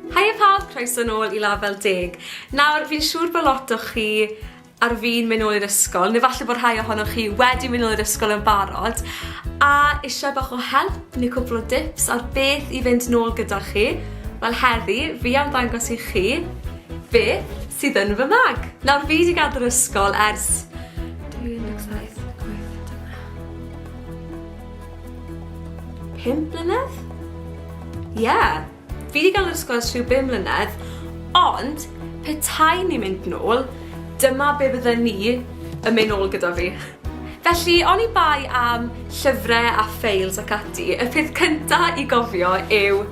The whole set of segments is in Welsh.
Haia pawb, croeso nôl i Label Deg. Nawr, fi'n siŵr bod lot o chi ar fin mynd nôl i'r ysgol, neu falle bod rhai ohonoch chi wedi mynd nôl i'r ysgol yn barod, a eisiau bach o help neu cwpl o dips ar beth i fynd nôl gyda chi, wel heddi, fi am ddangos i chi beth sydd yn fy mag. Nawr, fi wedi gadael yr ysgol ers 2017, 2018, 2019, 5 mlynedd? Ie. Yeah. Fi 'di ga'l yr ysgol ers rhyw bum mlynedd, ond petai ni'n mynd nôl, dyma be' fydden ni yn myn' nôl gyda fi. Felly, oni bai am llyfre a ffeils ac ati, y peth cynta i gofio yw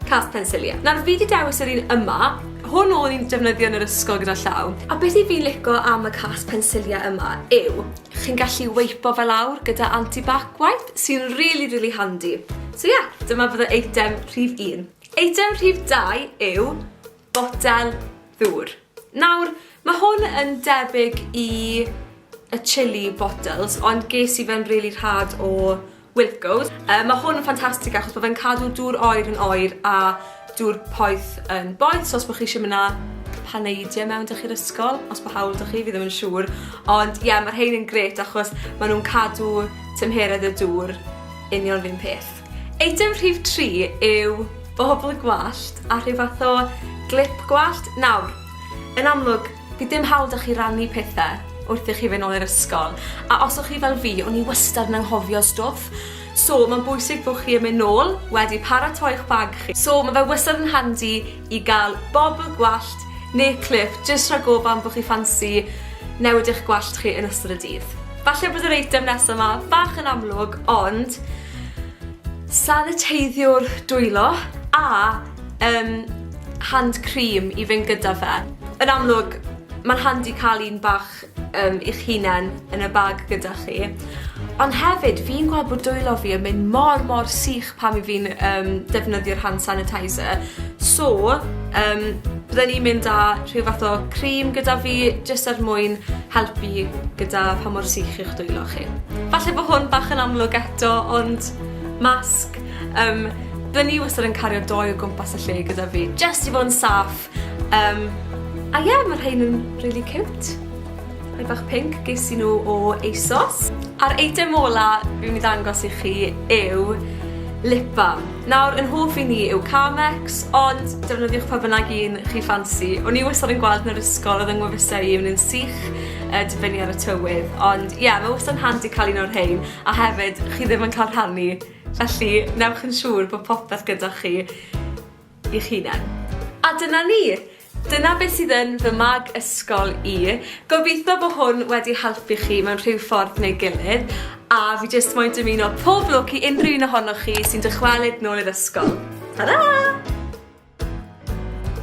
cast pensilie. Nawr fi 'di dewis yr un yma, hwn o'n i'n defnyddio yn yr ysgol gyda llaw, a be' sy fi'n lico am y cast pensilie yma yw Chi'n gallu weipo fe lawr gyda anti-bac wipe sy'n rili rili handi. So ie, dyma fydde eitem rhif un. Eitem rhif dau yw botel ddŵr. Nawr, ma' hwn yn debyg i y chilli bottles ond ges i fe'n rili rhad o Wilko's. Yy ma' hwn yn ffantastig achos bo' fe'n cadw dŵr oer yn oer a dŵr poeth yn boeth so os bo' chi isie myn' â paneidie mewn 'da chi'r ysgol os bo' hawl 'da chi fi ddim yn siŵr ond ie ma' rhein yn grêt achos ma' nw'n cadw tymheredd y dŵr union 'r un peth. Eitem rhif tri yw bobol gwallt a rhyw fath o glip gwallt. Nawr, yn amlwg Bydd dim hawl 'da chi rannu pethe wrth i chi fyn' nôl i'r ysgol, a os o' chi fel fi, o'n i wastad yn anghofio stwff, so ma'n bwysig bo' chi yn myn' nôl wedi paratoi'ch bag chi. So ma' fe wastad yn handi i ga'l bobl gwallt ne' clip jyst rhag ofon bo' chi ffansi newid eich gwallt chi yn ystod y dydd. Falle bod yr eitem nesa 'ma bach yn amlwg ond saniteiddiwr dwylo a yym hand cream i fynd gyda fe. Yn amlwg ma'n handi ca'l un bach yym i'ch hunen yn y bag gyda chi. Ond hefyd fi'n gweld bod dwylo fi yn mynd mor mor sych pan 'yf fi'n yym defnyddio'r hand sanitizer so yym bydden i'n mynd â rhyw fath o cream gyda fi jyst er mwyn helpu gyda pha mor sych yw'ch dwylo chi. Falle bo' hwn bach yn amlwg eto ond masg Yym, by' ni wastad yn cario dou o gwmpas y lle gyda fi, jyst i fod yn saff. Yym, a ie, ma' rhein yn rili ciwt. Rhai bach pinc, ges i nhw o ASOS. A'r eitem ola fi myn' i ddangos i chi yw lip balm. Nawr, yn hoff i ni yw Carmex, ond defnyddiwch pa bynnag un chi ffansi. O'n i wastad yn gweld yn yr ysgol odd yng ngwefusau i un yn sych, yy dibynnu ar y tywydd, ond ie, ma' wastad yn handi ca'l un o'r rhein, a hefyd chi ddim yn ca'l rhannu Felly, newch yn siŵr bod popeth gyda chi i'ch hunen. A dyna ni! Dyna beth sydd yn fy mag ysgol i. Gobeithio bod hwn wedi helpu chi mewn rhyw ffordd neu gilydd, a fi jyst moyn dymuno pob lwc i unrhyw un ohonoch chi sy'n dychwelyd nôl i'r ysgol. Tara!